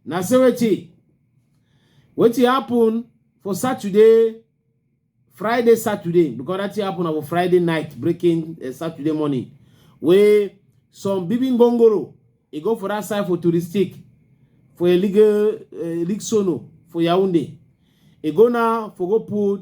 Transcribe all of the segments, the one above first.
na say wetin wetin happen for saturday friday saturday because that thing happen on friday night breaking uh, saturday morning wey some bibin gongoro e go for that side for touristic for a legal uh, eh, league sono for yaounde e go now for go put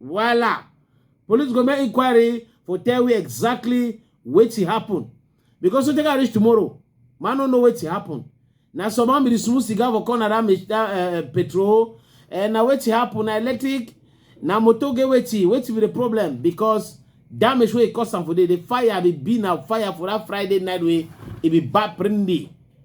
Voila! Police go make inquiry for tell we exactly wetin happen. Because so take I reach tomorrow, man no know wetin happen. Na some man be the smooth cigar for corner that, mach- that uh, petrol. And na wetin happen, na electric, na motor get wetin, wetin be the problem? Because damage wey e cause am for there, the fire be be na fire for that Friday night wey e be bad prindy.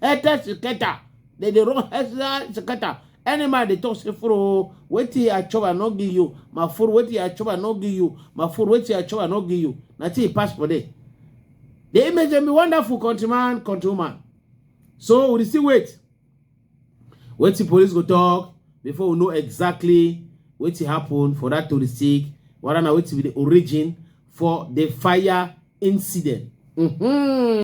Heta Seketa. They dey run Heta Seketa. Any man dey talk say furo wetin I chop I no give you. My furo wetin I chop I no give you. My furo wetin I chop I no give you. Na till he pass for there. The image dey be wonderful countryman, countrywoman. So we dey still wait. Wetin police go talk before we know exactly wetin happen for that touristic whether na wetin be the origin for the fire incident. Mm-hmm.